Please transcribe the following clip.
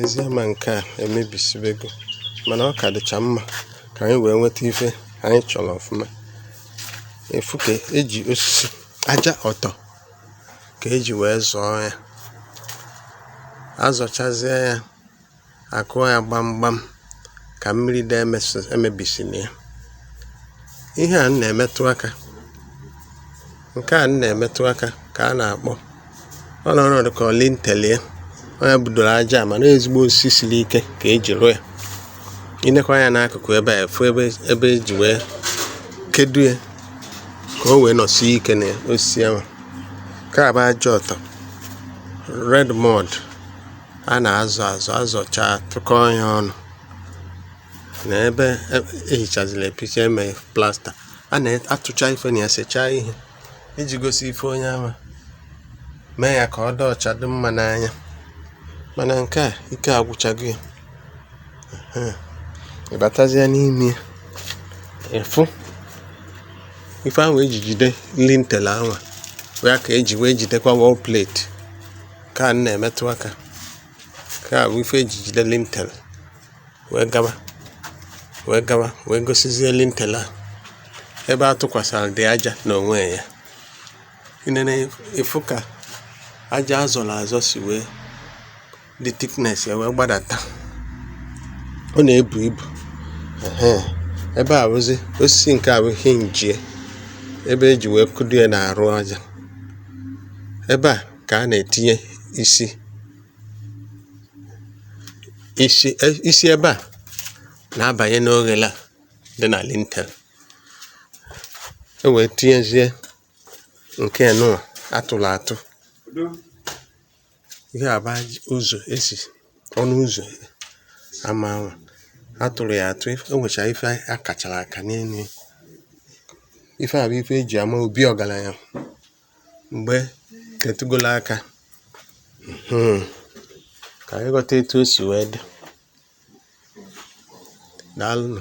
ezi ama nke a emebisibego mana ọ ka dịcha mma ka anyị wee nweta ife anyị chọrọ ọfụma ị fụ ka eji osisi aja ọtọ ka eji wee zọọ ya azọchazie ya akụọ ya gbamgbam ka mmiri dị emebisina ya ihe a m na-emetụ aka nke a m na-emetụ aka ka a na-akpọ ọ nọ ọnọdụ ka lintel ọ ya budoro aja mana ezigbo osisi siri ike ka eji rụọ ya ị nekwaa anya n'akụkụ ebe a ị fụ ebe eji wee kedo ya ka o wee nọsie ike na osisi ahụ nke a bụ aja ọtọ red mud a na-azọ azọ azọcha tụkọọ ya ọnụ na ebe ehichaziri e epicha eme plasta a na-atụcha ife na ya sechaa ihe iji gosi ife onye anwa mee ya ka ọ dị ọcha dị mma n'anya mana nke a ike agwụchago ya ị batazia n'ime ị fụ ife ahụ eji jide lintel anwa ya ka eji wee jidekwa wall plate Nke a m na-emetụ aka. Nke a bụ ife eji jide lintel wee gaba wee gosizie lintel a ebe a tụkwasaradị aja n'onwe ya. Ị nene ị fụ ka aja azọrọ azọ si wee dị thickness ya wee gbadata. Ọ na-ebu ibu um ebe a bụzi osisi nke a bụ hinge ya ebe eji wee kụdo ya n'arụ aja ebe a ka a na-etinye isi isi ebe a na-abanye n'oghele a dị na lintel e wee tinyezie nke nụwa atụrụ atụ ihe a bụ ụzọ ezi ọnụ ụzọ ama ahụ atụrụ ya atụ o nwecha ife a kachara aka n'elu ife a bụ ife eji ama obi ọgaranya mgbe ke tegolo aka hmm. ka anyị ghọta etu o si wee dị daalụnụ